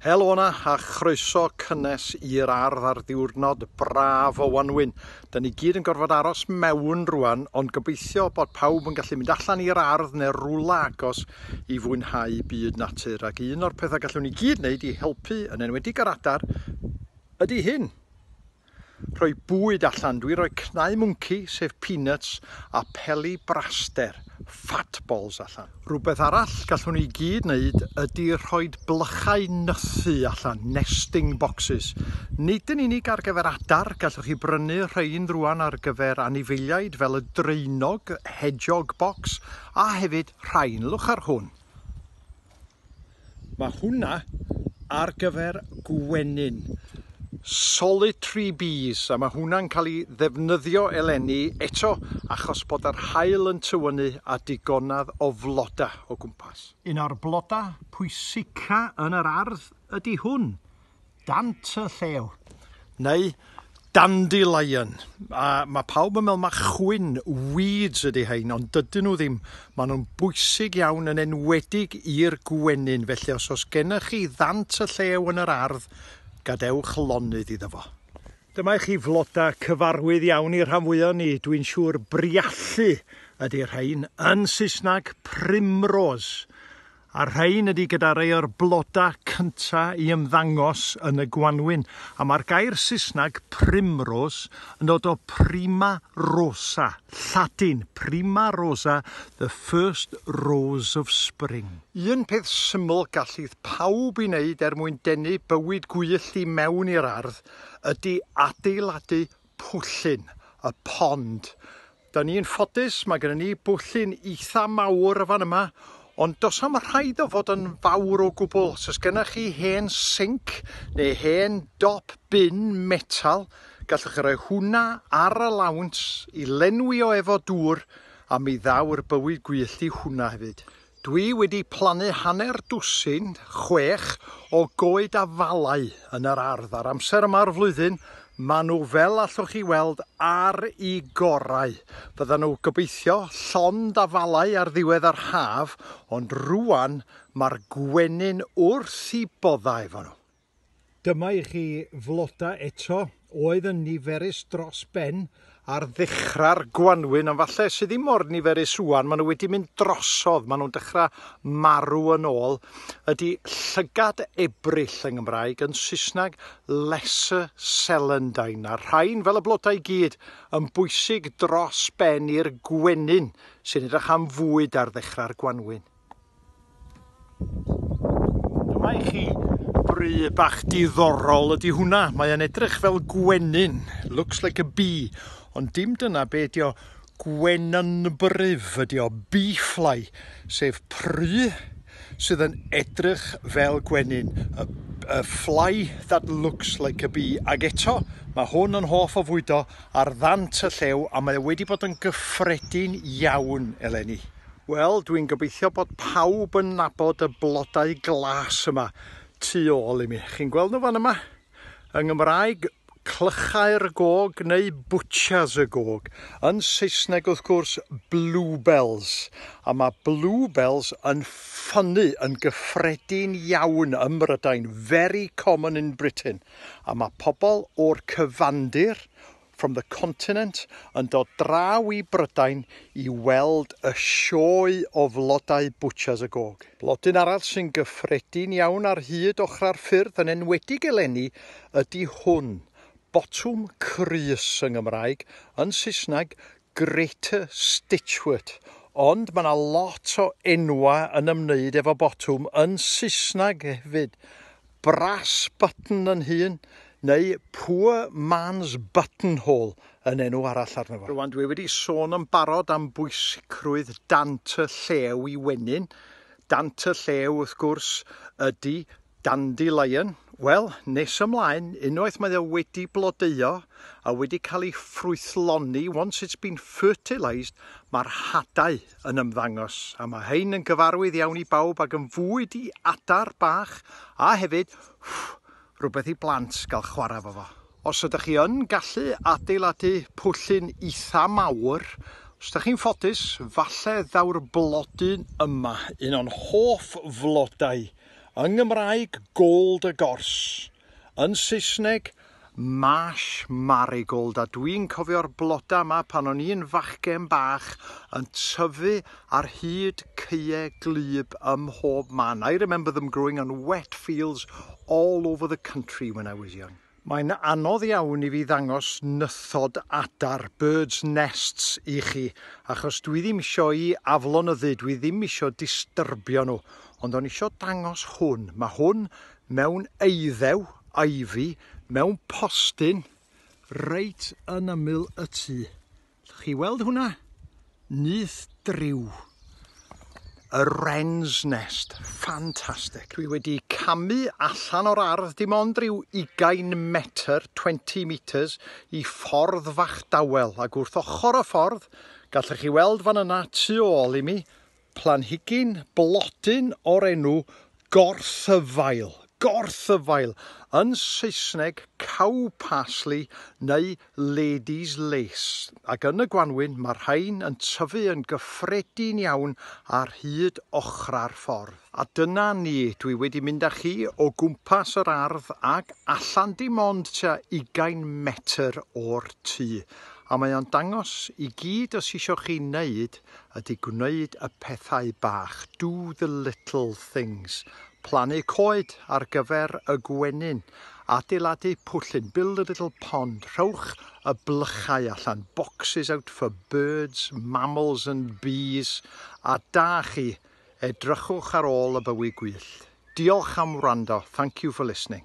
Helo yna a chroeso cynnes i'r ardd ar ddiwrnod braf o wanwyn. Dyn ni gyd yn gorfod aros mewn rwan, ond gobeithio bod pawb yn gallu mynd allan i'r ardd neu rwla agos i fwynhau byd natur. Ac un o'r pethau gallwn ni gyd wneud i helpu, yn enwedig yr adar, ydy hyn. Rhoi bwyd allan, dwi roi cnau mwnci, sef peanuts, a peli braster, fat balls, allan. Rhywbeth arall gallwn i gyd wneud ydi rhoi blychau nythu allan, nesting boxes. Nid yn unig ar gyfer adar, gallwch chi brynu rhein rwan ar gyfer anifeiliaid fel y draenog, hedgehog box, a hefyd rhain, lwch ar hwn. Mae hwnna ar gyfer gwenyn. Solitary bees, a mae hwnna'n cael ei ddefnyddio eleni eto achos bod yr haul yn tywynnu a digonedd o flodau o gwmpas. Un o'r blodau pwysica yn yr ardd ydy hwn. dant y llew. Neu dandelion. A mae pawb yn meddwl mae chwyn, weeds ydy hein, ond dydyn nhw ddim. Maen nhw'n bwysig iawn yn enwedig i'r gwenyn, felly os oes gennych chi ddant y llew yn yr ardd, gadewch lonydd iddo fo. Dyma i chi flodau cyfarwydd iawn i'r rhan fwyaf ni, dwi'n siŵr briallu ydy'r rhain, yn Saesneg primrose. A'r rhain ydy gyda rei o'r bloda cynta i ymddangos yn y gwanwyn, a mae'r gair Saesneg primrose yn dod o prima rosa, Lladin, prima rosa, the first rose of spring. Un peth syml gallith pawb i wneud er mwyn denu bywyd gwyllt i mewn i'r ardd ydy adeiladu Pwllyn y pond. Da ni'n ffodus, mae gennym ni bwllyn eitha mawr y fan yma, ond does am rhaid o fod yn fawr o gwbl. Os oes gennych chi hen sinc neu hen dop bin metal, gallwch chi roi hwnna ar y lawnt i lenwi o efo dŵr a mi ddaw'r bywyd gwyllt i hwnna hefyd. Dwi wedi plannu hanner dwsin, chwech, o goed a falau yn yr ardd a'r amser yma o'r flwyddyn maen nhw fel allwch chi weld ar i gorau. Fyddan nhw gobeithio llond a falau ar ddiwedd yr haf ond rwan mae'r gwenyn wrth i boddau efo nhw. Dyma i chi floda eto, oedd yn niferus dros ben ar ddechrau'r gwanwyn, ond falle sydd ddim mor niferus rwan, maen nhw wedi mynd drosodd, maen nhw'n dechrau marw yn ôl. Ydy llygad ebryll yng Nghymraeg, yn Saesneg lesser celandine. Mae'r rhain, fel y blodau i gyd, yn bwysig dros ben i'r gwenyn sy'n edrych am fwyd ar ddechrau'r gwanwyn. Dyma i chi bry bach diddorol ydy hwnna. Mae o'n edrych fel gwenyn. Looks like a bee. Ond dim dyna be ydy o. Gwenynbryf ydy o. Bee fly. Sef pry sydd yn edrych fel gwenyn. A, a fly that looks like a bee. Ac eto, mae hwn yn hoff o fwydo ar ddant y llew a mae wedi bod yn gyffredin iawn eleni. Wel, dwi'n gobeithio bod pawb yn nabod y blodau glas yma tu ôl i mi. Chi'n gweld nhw fan yma? Yng Nghymraeg, clychau'r gog neu bwtsias y gog. Yn Saesneg, wrth gwrs, bluebells. A mae bluebells yn ffynnu yn gyffredin iawn ym Mhrydain, very common in Britain. A mae pobl o'r cyfandir, from the continent yn dod draw i Brydain i weld y sioe o flodau Butcher's a Gog. Blodyn arall sy'n gyffredin iawn ar hyd ochrau'r ffyrdd, yn enwedig eleni, ydy hwn, botwm crys yng Nghymraeg, yn Saesneg, Greater Stitchwort, ond mae 'na lot o enwa yn ymwneud efo Botwm yn Saesneg hefyd, Brass Button yn hun, neu Poor Man's Buttonhole yn enw arall arno fo. Rwan dwi wedi sôn yn barod am bwysicrwydd dant y llew i wenyn. Dant y llew wrth gwrs ydi Dandelion, wel, nes ymlaen, unwaith mae o wedi blodeuo a wedi cael ei ffrwythloni, once it's been fertilised, mae'r hadau yn ymddangos, a mae hein yn gyfarwydd iawn i bawb ac yn fwyd i adar bach a hefyd, wff, rhywbeth i blant gael chwarae fo fo. Os ydych chi yn gallu adeiladu pwllyn eitha mawr, os ydych chi'n ffodus, falle ddaw'r blodyn yma, un o'n hoff flodau Yng Nghymraeg, gold a gorse. Yn Saesneg, marsh marigold a dwi'n cofio'r bloda yma pan o'n i'n fachgen bach yn tyfu ar hyd caeau gwlyb ym mhob man. I remember them growing on wet fields all over the country when I was young. Mae'n anodd iawn i fi ddangos nythod adar, birds nests, i chi, achos dwi ddim isio'i aflonyddu, dwi ddim isio distyrbio nhw, ond o'n isio dangos hwn. Mae hwn mewn eiddew, ivy, mewn postyn, reit yn ymyl y tŷ. Allwch chi weld hwnna? Nyth driw. Y wren's nest. Ffantastig. Dwi wedi camu allan o'r ardd dim ond rhyw 20 metr, 20 metres, i ffordd fach dawel. Ac wrth ochr y ffordd, gallwch chi weld fan yna tu ôl i mi, planhigyn blodyn o'r enw gorthyfail, gorthyfail, yn Saesneg cow parsley neu lady's lace, ac yn y gwanwyn mae'r rhain yn tyfu yn gyffredin iawn ar hyd ochrau'r ffordd. A dyna ni, dwi wedi mynd â chi o gwmpas yr ardd ac allan dim ond tua ugain metr o'r tŷ, a mae o'n dangos i gyd os isio chi wneud ydy gwneud y pethau bach, do the little things, plannu coed ar gyfer y gwenyn, adeiladu pwll in, build a little pond, rhowch y blychau allan, boxes out for birds, mammals and bees, a da chi, edrychwch ar ôl y bywyd gwyllt. Diolch am wrando, thank you for listening.